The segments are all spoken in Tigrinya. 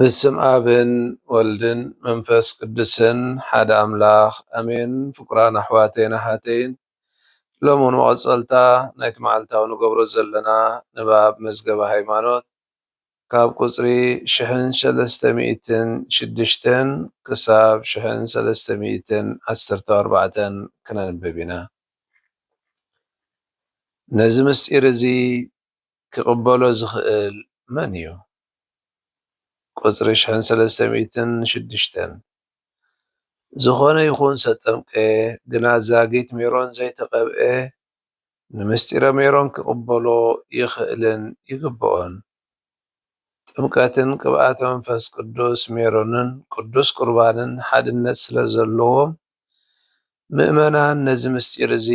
ብስም ኣብን ወልድን መንፈስ ቅዱስን ሓደ ኣምላኽ ኣሜን። ፍቁራን ኣሕዋተይን ኣሓተይን ሎምውን መቐጸልታ ናይቲ መዓልታዊ ንገብሮ ዘለና ንባብ መዝገበ ሃይማኖት ካብ ቁጽሪ ሽሕን ሰለስተ ሚእትን ሽዱሽተን ክሳብ ሽሕን ሰለስተ ሚእትን ዓሰርተው ኣርባዕተን ክነንብብ ኢና። ነዚ ምስጢር እዚ ኪቕበሎ ዚኽእል መን እዩ? ቍጽሪ ሽሕን ሰለስተ ሚእትን ሽዱሽተን፣ ዝዀነ ይኹን ዝተጠምቀ ግና ዛጊት ሜሮን ዘይተቐብኤ፣ ንምስጢረ ሜሮን ኪቕበሎ ይኽእልን ይግብኦን። ጥምቀትን ቅብኣተ መንፈስ ቅዱስ ሜሮንን ቅዱስ ቍርባንን ሓድነት ስለ ዘለዎም፣ ምእመናን ነዚ ምሥጢር እዚ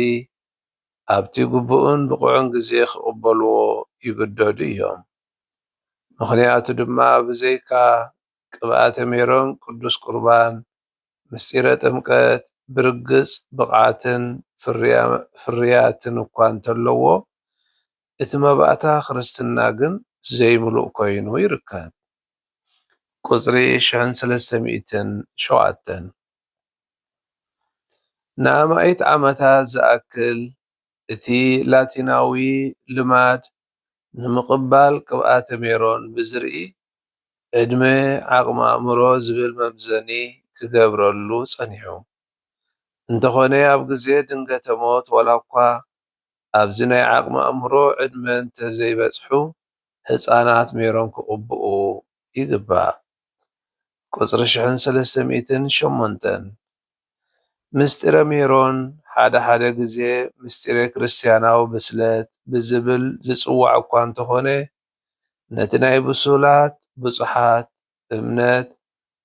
ኣብቲ ግቡእን ብቑዕን ግዜ ኺቕበልዎ ይግደዱ እዮም። ምኽንያቱ ድማ ብዘይካ ቅብኣተ ሜሮን ቅዱስ ቍርባን፣ ምሥጢረ ጥምቀት ብርግጽ ብቕዓትን ፍርያትን እኳ እንተለዎ፣ እቲ መባእታ ክርስትና ግን ዘይምሉእ ኮይኑ ይርከብ። ቍጽሪ ሽሕን ሰለስተ ሚእትን ሸውዓተን። ንኣማኢት ዓመታት ዝኣክል እቲ ላቲናዊ ልማድ ንምቕባል ቅብኣተ ሜሮን ብዝርኢ ዕድመ ዓቕሚ ኣእምሮ ዝብል መምዘኒ ክገብረሉ ጸኒሑ። እንተዀነ ኣብ ግዜ ድንገተ ሞት ዋላኳ ኣብዚ ናይ ዓቕሚ ኣእምሮ ዕድመ እንተ ዘይበጽሑ ህጻናት ሜሮን ክቕብኡ ይግባእ። ቁጽሪ ሽሕን ሰለስተ ሚእትን ሸሞንተን። ምሥጢረ ሜሮን ሓደ ሓደ ግዜ ምሥጢረ ክርስትያናዊ ብስለት ብዝብል ዝጽዋዕ እኳ እንተኾነ ነቲ ናይ ብሱላት፣ ብጹሓት፣ እምነት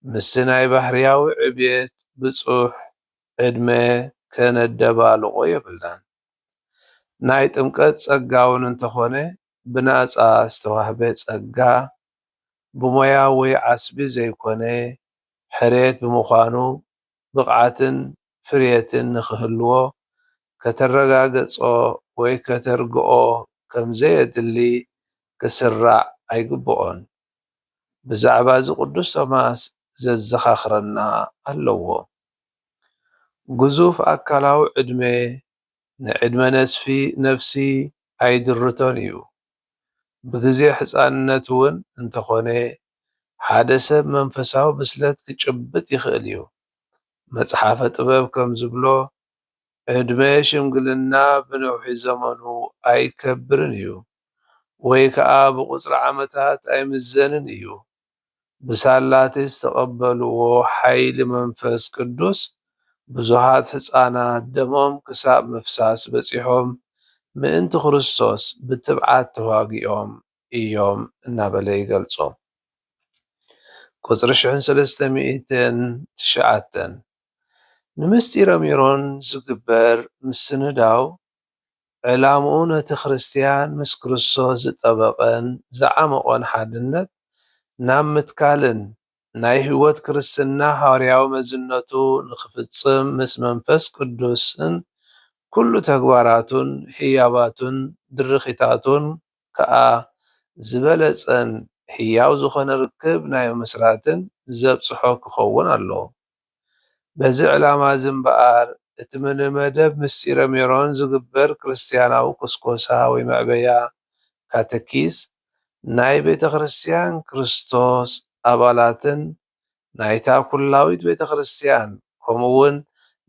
ምስቲ ናይ ባህርያዊ ዕብየት፣ ብጹሕ፣ ዕድመ ከነደባልቖ የብልናን። ናይ ጥምቀት ጸጋውን እንተኾነ ብናጻ ዝተዋህበ ጸጋ፣ ብሞያዊ ዓስቢ ዘይኮነ ሕርየት ብምዃኑ፣ ብቕዓትን ፍርየትን ንኽህልዎ ከተረጋገጾ ወይ ከተርግኦ ከም ዘየድሊ ክስራዕ ኣይግብኦን። ብዛዕባዚ ቅዱስ ቶማስ ዘዘኻኽረና ኣለዎ። ግዙፍ ኣካላዊ ዕድመ ንዕድመ ነስፊ ነፍሲ ኣይድርቶን እዩ። ብግዜ ሕጻንነት እውን እንተኾነ ሓደ ሰብ መንፈሳዊ ብስለት ክጭብጥ ይኽእል እዩ። መጽሓፈ ጥበብ ከም ዝብሎ ዕድመ ሽምግልና ብነውሒ ዘመኑ ኣይከብርን እዩ ወይ ከኣ ብቁጽሪ ዓመታት ኣይምዘንን እዩ። ብሳላ'ቲ ዝተቐበልዎ ሓይሊ መንፈስ ቅዱስ ብዙኃት ሕፃናት ደሞም ክሳብ ምፍሳስ በጺሖም ምእንቲ ክርስቶስ ብትብዓት ተዋጊኦም እዮም እናበለ ይገልጾ ቁጽሪ ሽሕን ሰለስተ ሚእትን ትሽዓተን ንምሥጢረ ሜሮን ዝግበር ምስንዳው ዕላምኡ ነቲ ክርስትያን ምስ ክርስቶስ ዝጠበቐን ዝዓሞቐን ሓድነት ናብ ምትካልን ናይ ሕይወት ክርስትና ሃዋርያዊ መዝነቱ ንኽፍጽም ምስ መንፈስ ቅዱስን ኩሉ ተግባራቱን ህያባቱን ድርኺታቱን ከኣ ዝበለጸን ሕያው ዝኾነ ርክብ ናይ ምምስራትን ዘብጽሖ ክኸውን ኣለዎ። በዚ ዕላማ'ዚ እምበኣር፣ እቲ ንመደብ ምስጢረ ሜሮን ዝግበር ክርስትያናዊ ኵስኰሳ ወይ መዕበያ፣ ካተኪስ፣ ናይ ቤተ-ክርስትያን ክርስቶስ ኣባላትን ናይታ ኵላዊት ቤተ-ክርስትያን ከምኡ'ውን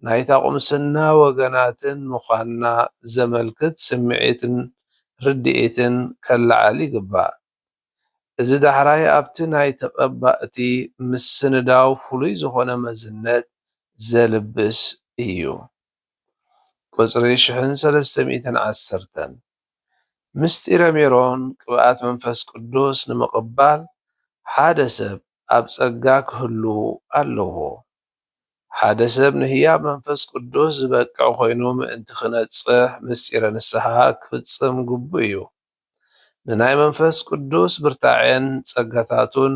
ናይታ ቍምስና ወገናትን ምዃንና ዘመልክት ስምዒትን ርድኢትን ከለዓዕል ይግባእ። እዚ ዳሕራይ ኣብቲ ናይ ተቐባእቲ ምስንዳው ፍሉይ ዝኾነ መዝነት ዘልብስ እዩ። ቁጽሪ ሽሕን ሰለስተ ሚእትን ዓሰርተን፣ ምስጢረ ሜሮን ቅብኣት መንፈስ ቅዱስ ንምቕባል ሓደ ሰብ ኣብ ጸጋ ክህሉ ኣለዎ። ሓደ ሰብ ንህያብ መንፈስ ቅዱስ ዝበቅዕ ኮይኑ ምእንቲ ክነጽሕ ምስጢረ ንስሓ ክፍጽም ግቡእ እዩ። ንናይ መንፈስ ቅዱስ ብርታዔን ጸጋታቱን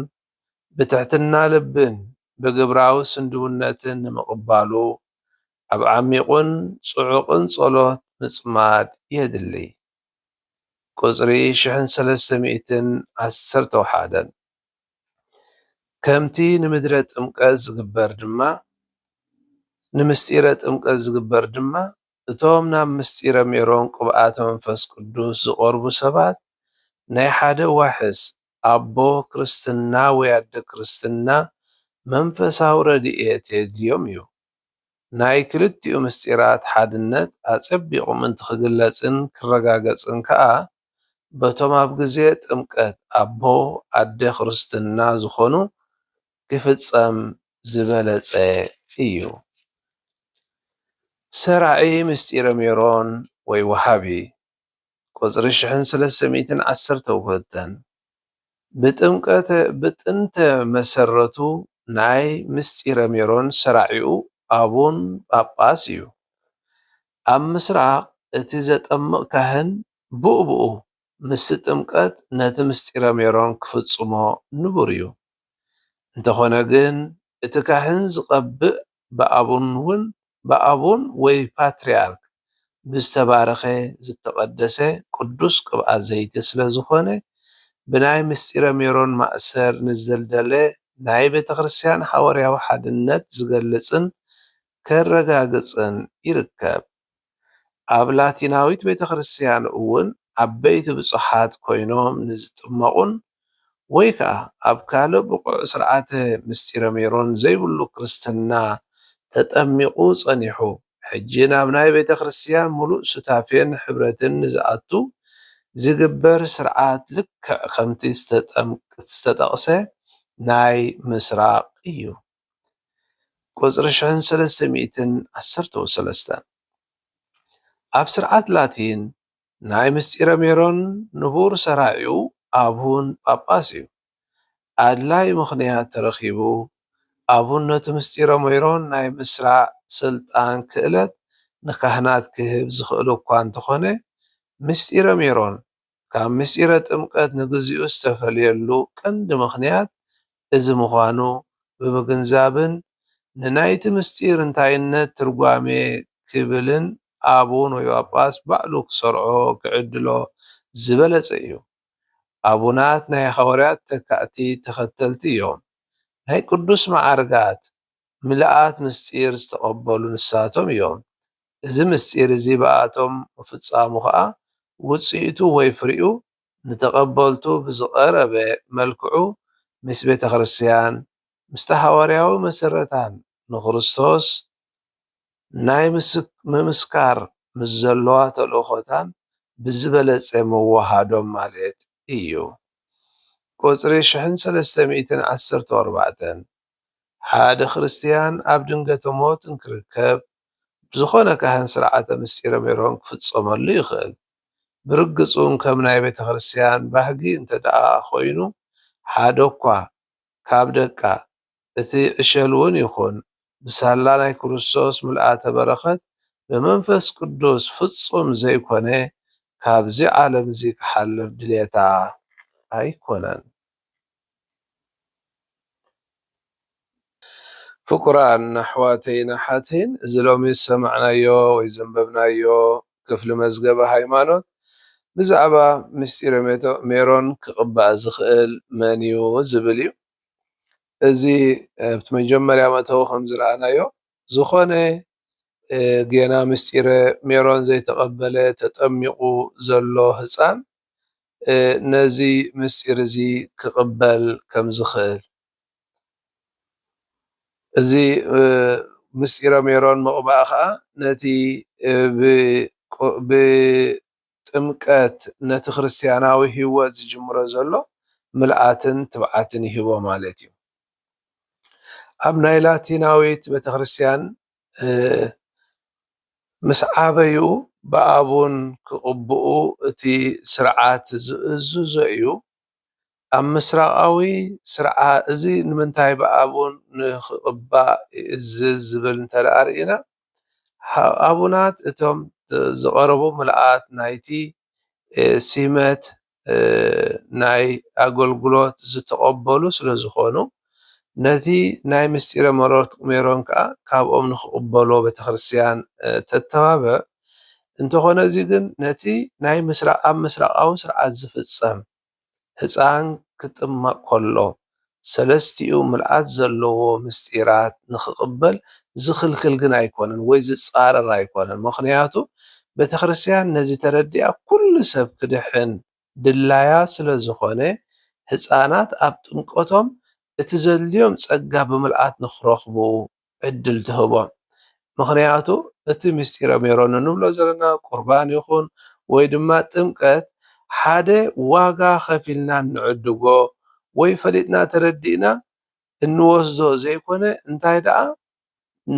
ብትሕትና ልብን ብግብራዊ ስንድውነትን ንምቕባሉ ኣብ ዓሚቝን ጽዑቕን ጸሎት ምጽማድ የድሊ። ቁጽሪ ሽሕን ሰለስተ ሚእትን ዓሰርተ ወሓደን። ከምቲ ንምድረ ጥምቀት ዝግበር ድማ ንምስጢረ ጥምቀት ዝግበር ድማ እቶም ናብ ምሥጢረ ሜሮን ቅብኣተ መንፈስ ቅዱስ ዝቐርቡ ሰባት ናይ ሓደ ዋሕስ ኣቦ ክርስትና ወይ ኣደ ክርስትና መንፈሳዊ ረድኤት የድልዮም እዩ። ናይ ክልቲኡ ምሥጢራት ሓድነት ኣጸቢቑ ምእንቲ ክግለጽን ክረጋገጽን ከኣ በቶም ኣብ ግዜ ጥምቀት ኣቦ ኣደ ክርስትና ዝኾኑ ክፍጸም ዝበለጸ እዩ። ሰራዒ ምስጢረ ሜሮን ወይ ወሃቢ ቁጽሪ ሽሕን ሰለስተ ሚእትን ዓሰርተ ውህብተን ብጥምቀተ ብጥንተ መሰረቱ ናይ ምስጢረ ሜሮን ሰራዒኡ ኣቡን ጳጳስ እዩ። ኣብ ምስራቕ እቲ ዘጠምቕ ካህን ብኡብኡ ምስቲ ጥምቀት ነቲ ምሥጢረ ሜሮን ክፍጽሞ ንቡር እዩ። እንተኾነ ግን እቲ ካህን ዝቐብእ ብኣቡን ውን ብኣቡን ወይ ፓትርያርክ ብዝተባረኸ ዝተቐደሰ ቅዱስ ቅብኣ ዘይቲ ስለ ዝኾነ ብናይ ምሥጢረ ሜሮን ማእሰር ንዝደልደለ ናይ ቤተክርስትያን ሓወርያዊ ሓድነት ዝገልጽን ከረጋግጽን ይርከብ። ኣብ ላቲናዊት ቤተ ክርስትያን እውን ዓበይቲ ብጹሓት ኮይኖም ንዝጥመቑን ወይ ከኣ ኣብ ካልእ ብቑዕ ሥርዓተ ምሥጢረ ሜሮን ዘይብሉ ክርስትና ተጠሚቑ ጸኒሑ ሕጂ ናብ ናይ ቤተ ክርስትያን ምሉእ ሱታፌን ኅብረትን ንዝኣቱ ዚግበር ሥርዓት ልክዕ ከምቲ ዝተጠቕሰ ናይ ምሥራቕ እዩ። ቁጽሪ ሽሕን ሰለስተ ሚእትን ዓሰርተው ሰለስተ። ኣብ ስርዓት ላቲን ናይ ምስጢረ ሜሮን ንቡር ሰራዒኡ ኣቡን ጳጳስ እዩ። ኣድላዪ ምኽንያት ተረኺቡ ኣቡነቱ ምስጢረ ሜሮን ናይ ምስራዕ ስልጣን ክእለት ንካህናት ክህብ ዝኽእል'ኳ እንተኾነ ምስጢረ ሜሮን ካብ ምስጢረ ጥምቀት ንግዚኡ ዝተፈልየሉ ቀንዲ ምኽንያት እዚ ምዃኑ ብምግንዛብን ንናይቲ ምስጢር እንታይነት ትርጓሜ ክብልን ኣቡን ወይ ጳጳስ ባዕሉ ክሰርዖ ክዕድሎ ዝበለጸ እዩ። ኣቡናት ናይ ሓዋርያት ተካእቲ ተኸተልቲ እዮም። ናይ ቅዱስ መዓርጋት ምልኣት ምሥጢር ዝተቐበሉ ንሳቶም እዮም። እዚ ምሥጢር እዚ ብኣቶም ምፍጻሙ ኸኣ ውጽኢቱ ወይ ፍሪኡ ንተቐበልቱ ብዝቐረበ መልክዑ ምስ ቤተ ክርስቲያን ምስቲ ሓዋርያዊ መሠረታን ንክርስቶስ ናይ ምምስካር ምስ ዘለዋ ተልእኮታን ብዝበለጸ ምውሃዶም ማለት እዩ። ቁጽሪ ሽሕን ሰለስተ ሚእትን ዓሰርተ ኣርባዕተን። ሓደ ክርስትያን ኣብ ድንገተ ሞት እንክርከብ ብዝኾነ ካህን ሥርዓተ ምሥጢረ ሜሮን ክፍጸመሉ ይኽእል። ብርግጽ'ውን ከም ናይ ቤተ ክርስትያን ባህጊ እንተደኣ ኮይኑ ሓደ'ኳ ካብ ደቃ፣ እቲ ዕሸል'ውን ይኹን፣ ብሳላ ናይ ክርስቶስ ምልኣተ በረኸት ብመንፈስ ቅዱስ ፍጹም ዘይኮነ ካብዚ ዓለም'ዚ ክሓልፍ ድልየታ ኣይኮነን። ፍቁራን ኣሕዋተይን ኣሓተይን እዚ ሎሚ ዝሰማዕናዮ ወይ ዘንበብናዮ ክፍሊ መዝገበ ሃይማኖት ብዛዕባ ምስጢረ ሜሮን ክቕባእ ዝኽእል መን እዩ ዝብል እዩ። እዚ ኣብቲ መጀመርያ መእተዊ ከምዝረኣናዮ ዝኾነ ጌና ምስጢረ ሜሮን ዘይተቐበለ ተጠሚቑ ዘሎ ህጻን ነዚ ምስጢር እዚ ክቕበል ከም ዝኽእል እዚ ምስጢረ ሜሮን ምቕባእ ከኣ ነቲ ብጥምቀት ነቲ ክርስትያናዊ ህይወት ዝጅምሮ ዘሎ ምልኣትን ትብዓትን ይህቦ ማለት እዩ። ኣብ ናይ ላቲናዊት ቤተክርስትያን ምስ ዓበዩ ብኣቡን ክቕብኡ እቲ ስርዓት ዝእዝዞ እዩ። ኣብ ምስራቓዊ ስርዓ እዚ ንምንታይ ብኣቡን ንክቕባእ ይእዝዝ ዝብል እንተድኣ ርኢና ኣቡናት እቶም ዝቐረቡ ምልኣት ናይቲ ሲመት ናይ ኣገልግሎት ዝተቐበሉ ስለ ዝኾኑ፣ ነቲ ናይ ምስጢረ መሮርት ሜሮን ከኣ ካብኦም ንኽቕበሎ ቤተክርስትያን ተተባብዕ፣ እንተኾነ እዚ ግን ነቲ ናይ ምስራ ኣብ ምስራቓዊ ስርዓት ዝፍጸም፣ ህጻን ክጥመቕ ከሎ፣ ሰለስቲኡ ምልኣት ዘለዎ ምሥጢራት ንክቕበል ዝኽልክል ግን ኣይኮነን ወይ ዝጻረር ኣይኮነን ምኽንያቱ ቤተክርስትያን ነዚ ተረዲኣ ኩሉ ሰብ ክድሕን ድላያ ስለዝኾነ ሕፃናት ኣብ ጥምቀቶም እቲ ዘድልዮም ጸጋ ብምልኣት ንክረኽቡ ዕድል ትህቦም ምኽንያቱ እቲ ምስጢረ ሜሮን እንብሎ ዘለና ቁርባን ይኹን ወይ ድማ ጥምቀት ሓደ ዋጋ ከፊልና እንዕድጎ ወይ ፈሊጥና ተረዲእና እንወስዶ ዘይኮነ እንታይ ደኣ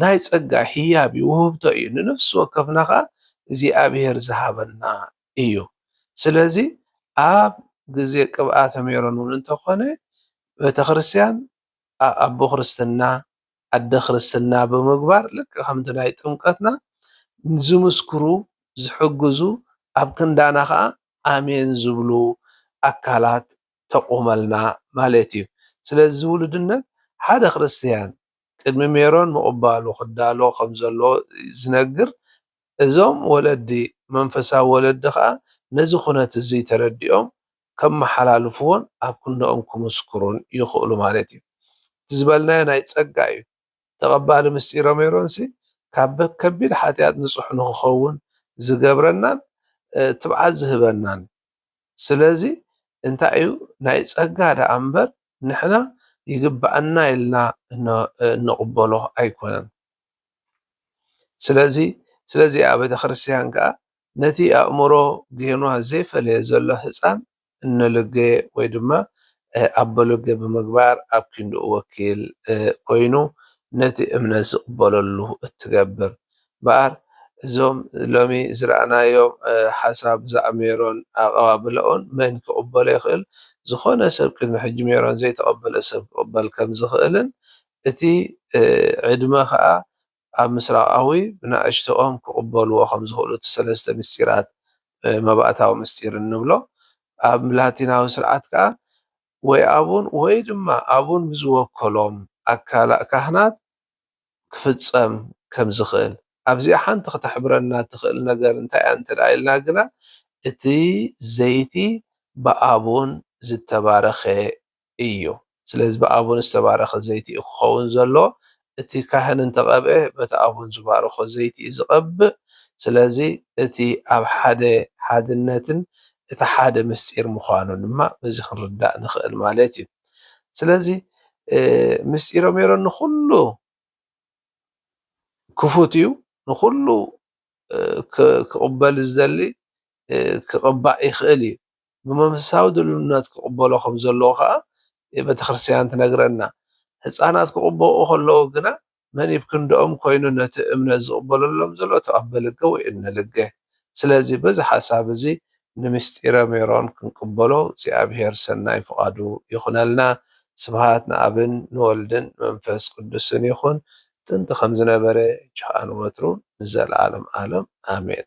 ናይ ጸጋ ሂያብ እዩ ውህብቶ እዩ ንነፍሲ ወከፍና ከኣ እግዚኣብሄር ዝሃበና እዩ ስለዚ ኣብ ግዜ ቅብኣተ ሜሮን ውን እንተኾነ ቤተክርስትያን ኣኣቦ ክርስትና ኣደ ክርስትና ብምግባር ልክዕ ከምቲ ናይ ጥምቀትና ዝምስክሩ ዝሕግዙ ኣብ ክንዳና ከኣ ኣሜን ዝብሉ ኣካላት ተቁመልና ማለት እዩ ስለዚ እዚ ውሉድነት ሓደ ክርስትያን ቅድሚ ሜሮን ምቅባሉ ክዳሎ ከም ዘለዎ ዝነግር እዞም ወለዲ መንፈሳዊ ወለዲ ከኣ ነዚ ኩነት እዙይ ተረዲኦም ከመሓላልፍዎን ኣብ ክንድኦም ክምስክሩን ይኽእሉ ማለት እዩ። እቲ ዝበልናዮ ናይ ጸጋ እዩ። ተቐባሊ ምስጢረ ሜሮንሲ ካብ ከቢድ ሓጢኣት ንጹሕ ንኽኸውን ዝገብረናን ትብዓት ዝህበናን እዩ። ስለዚ እንታይ እዩ ናይ ጸጋ ደኣ እምበር ንሕና ይግብኣና ኢልና እንቕበሎ ኣይኮነን። ስለዚ ስለዚ እያ ቤተ ክርስቲያን ከኣ ነቲ ኣእምሮ ጌኗ ዘይፈለየ ዘሎ ህጻን እኖሎገ ወይ ድማ ኣቦሎገ ብምግባር ኣብ ኪንድኡ ወኪል ኮይኑ ነቲ እምነት ዝቕበለሉ እትገብር። እምበኣር እዞም ሎሚ ዝረኣናዮም ሓሳብ ብዛዕባ ሜሮን ኣቐባብላኡን መን ኪቕበሎ ይኽእል ዝኾነ ሰብ ቅድሚ ሕጂ ሜሮን ዘይተቐበለ ሰብ ኪቕበል ከምዝኽእልን እቲ ዕድመ ከኣ ኣብ ምስራቓዊ ብናእሽቶኦም ክቕበልዎ ከም ዝኽእሉ እቲ ሰለስተ ምስጢራት መባእታዊ ምስጢር እንብሎ ኣብ ላቲናዊ ስርዓት ከኣ ወይ ኣቡን ወይ ድማ ኣቡን ብዝወከሎም ኣካላ ካህናት ክፍጸም ከም ዝኽእል ኣብዚኣ ሓንቲ ከተሕብረና ትኽእል ነገር እንታይ እያ እንተ ኢልና ግና እቲ ዘይቲ ብኣቡን ዝተባረኸ እዩ። ስለዚ ብኣቡን ዝተባረኸ ዘይቲ እዩ ክኸውን ዘሎ። እቲ ካህን እንተ ቐብኤ በቲ ኣቡን ዝባረኾ ዘይቲ እዩ ዝቐብእ። ስለዚ እቲ ኣብ ሓደ ሓድነትን እቲ ሓደ ምስጢር ምዃኑ ድማ በዚ ክንርዳእ ንኽእል ማለት እዩ። ስለዚ ምስጢረ ሜሮን ንኹሉ ክፉት እዩ። ንኹሉ ክቕበል ዝደሊ ክቕባእ ይኽእል እዩ። ብመንፈሳዊ ድልውነት ክቕበሎ ኸም ዘለዎ ኸኣ ቤተ ክርስትያን ትነግረና። ህጻናት ክቕበኡ ኸለዉ ግና መን ኢብ ክንድኦም ኰይኑ ነቲ እምነት ዝቕበለሎም ዘሎ ተቐበልገ ወይ እነልገ። ስለዚ በዚ ሓሳብ እዚ ንምሥጢረ ሜሮን ክንቅበሎ እግዚኣብሔር ሠናይ ፍቓዱ ይኹነልና። ስብሃት ንኣብን ንወልድን ንመንፈስ ቅዱስን ይኹን ጥንቲ ኸም ዝነበረ ጅሃን ወትሩ ንዘለዓለም ዓለም ኣሜን።